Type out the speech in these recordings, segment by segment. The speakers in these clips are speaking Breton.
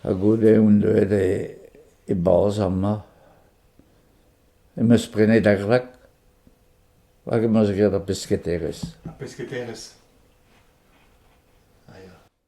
Ha goude on deuet e-barzh amañ, em eus prenet ar rak hag em eus graet ar pesketerezh. Ar pesketerezh, a ya.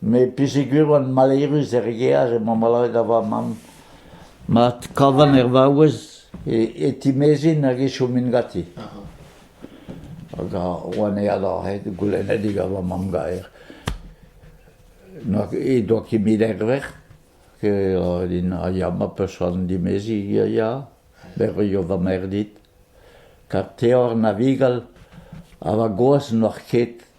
Me pesegur oan malerus er gear emañ maloret da va-mamm. Mat kavan er vaouez e e timezin hag e chomin ganti. Hag oan eat aze goulennedik gant va mamm gaer. He doa kemet er vrec'h, eo din a ya ma person dimezi a ya, berrio va merc'h dit. Kar teor navigal ha va gozh n'oar ket.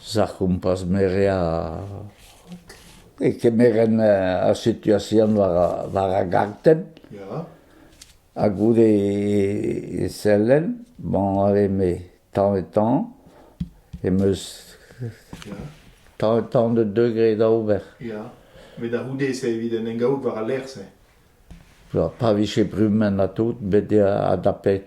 Sac'hompas meria e kemeren ar situasion war ar gartenn ha goude e sellen bon eme tamm-ha-tamm em eus tamm-ha-tamm da deugre da ober. Ya, met a-c'houde-se evit en em gavout war al lec'h-se. Pa vije brumenn ha tout, bet adapet.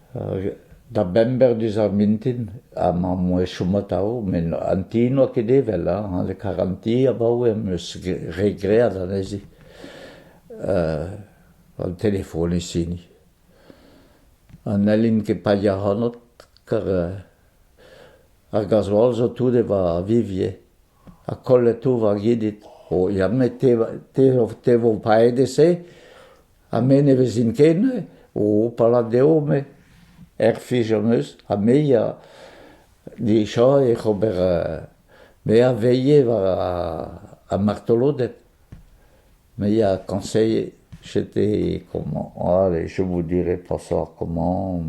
Da bember diouzh ar mintin emañ mont e chom atav met an ti n'oa ket evel hañ an karr an ti abaoe am eus re graet anezhi an telefon ez hini ha n'hellin ket paeañ ac'hanot kar ar gazoal zo tout evañ a vivje ha kollet tout war gidid o ya met te vo paeet e-se Ha me ne vezin ket neuze, o palat deomp eo, er fij am eus, ha me a dija ec'h ober me a veilhe war ar martoloded, me a kañseilhe chete komañ, ale je vous dirai pas ça comment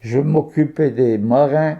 je m'occupais des marins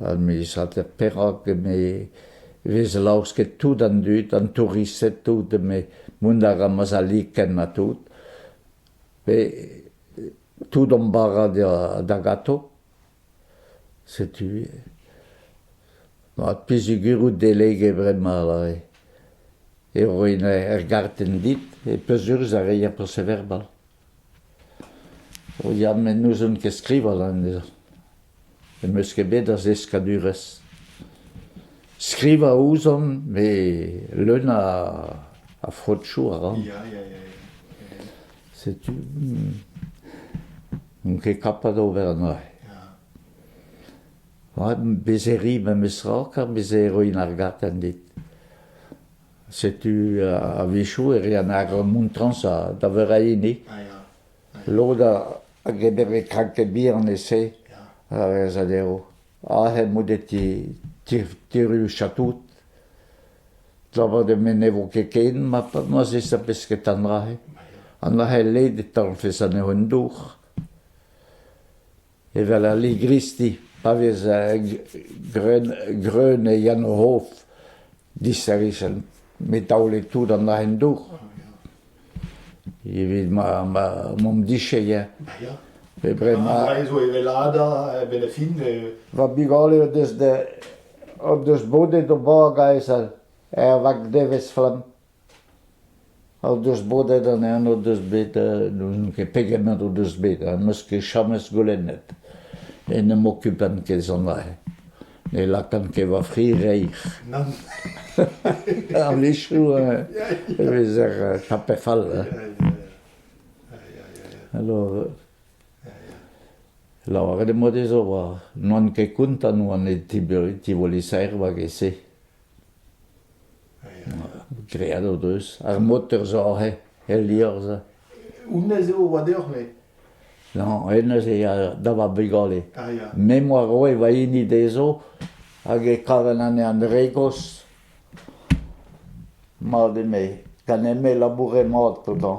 ha mizañs perak eme e vez laosket tout an dud, an touristed tout, eme mont a ra mazalikenn ha tout, pe tout hon bara da gato. Setu mat pizigur out delege bremañ lare. Eo er gartenn dit e peus urz ar reier perseverbal. Ya met n'ouzon ket skrivañ anezhañ. N'em eus ket bet a zeskadurezh. Skrivañ a ouzon met leun a a frotchoù a ran. Ya ya ya ya. Setu n'on ket kapañ d'ober anezhañ. Bezeri memes tra kar bezeri ar gartenn dit. Setu a-wechoù e rean ar montrañs da veur a hini. Lod a greder eo kraktet bihan e-se a vezañ dezho. Aze emaout e tirioù chatoud. Labour dre ne vo ket ken ma zesa pesked an dra-se. An dra-se led e talvfes anezho en dour. Evel al ligristi pa vez greun e Yann-Rof disheñvel met taolet tout an aen-dour evit m'am dicheye. Ar zo evelaat a-benn ar fin. Va bugale o deus bodet o bag aes er vag-devezh-flamm. O deus bodet anezhañ o deus bet n'ouzon ket pegement o deus bet ha n'eus ket james goulennet e n'em okupan ket sonjal ne lakan ket va fri reizh a-wechoù e vezer tapet fall alors lavaret em boa dezho oa n'oan ket kontant oan e tivoli saerva get-se Graet o deus ar moter zo aze, el liorzh. Honnezh eo a oa deoc'h, me ? Non, hennezh eo da vab vugale. Ah, ya. Me 'm boa roet va hini dezho hag e kaven anezhañ dre-gozh. Mat eme. Gant eme labouret mat gantañ.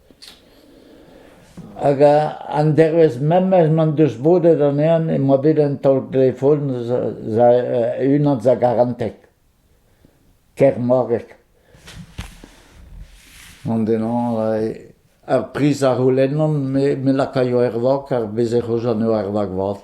Hag an dervezh memes m'en deus bodet anezhañ e oa bet un taol-telefon unan a garanteg, Kermoreg. An-den-hañv ar priz a c'houlennan me lakaio er vak ar bezh ec'h eus anezho er vak vat.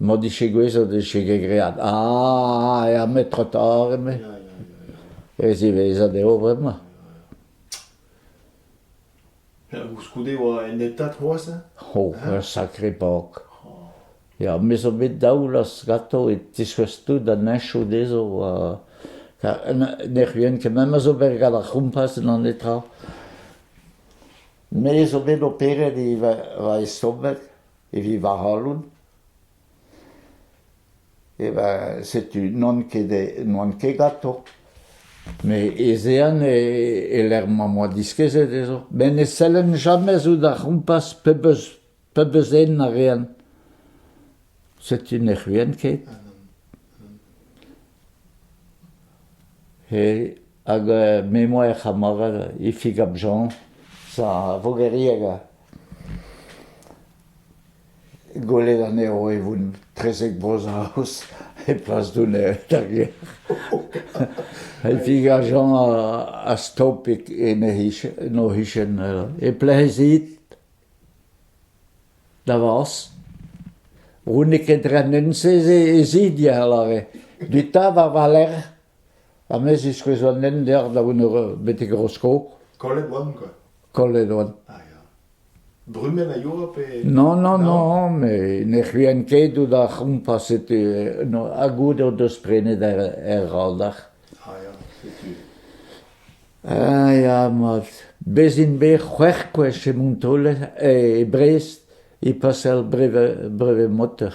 M'o dije gouezet e vije graet ah er metrotor eme. E ziwezhat eo bremañ. Koulskoude e oa en etad c'hoazh ho, ur sakre pok. Ya, me zo bet daou laz ganto e tiskouez tout da neñchoù dezho. Ne c'huen ket, me zo bet gant ar c'houmpaz en an netra. Me zo bet operet e va estorbeg. evit va c'halon. E ben, setu, n'on ket, n'oan ket gatoñ. Met ez ean e-lec'h ma oa diskezet ez Ben ne sellen jamais out ar c'hompas pebeus, pebeus den a rean. Setu ne c'huen ket. E, hag me 'moa er c'hamarad, Ifig ap Jean, sa vogerieg Gwelet anezho e voent trezek Bro-Saoz e plas Dounet d'ar gêr. E figajañ a stop en o c'hichen e plezhit da vos. Roet n'eo ket renenn-se e zidier lave. Duta war va lerc'h, ha me ziskouez an hent deoc'h da vout betek Roskog. Kollet oan, quoi. Kollet on. Ah ya. Brumenn a yoa pe... Non, non, non, mais ne c'huen ket out ar c'hompas setu eh, no, ha goût o deus prenet er, er raldach. Ah ya, setu. Ah ya, mat. Bez int bet c'hwec'h gwech e Montolet, e Brest, e pasel breve, breve motor.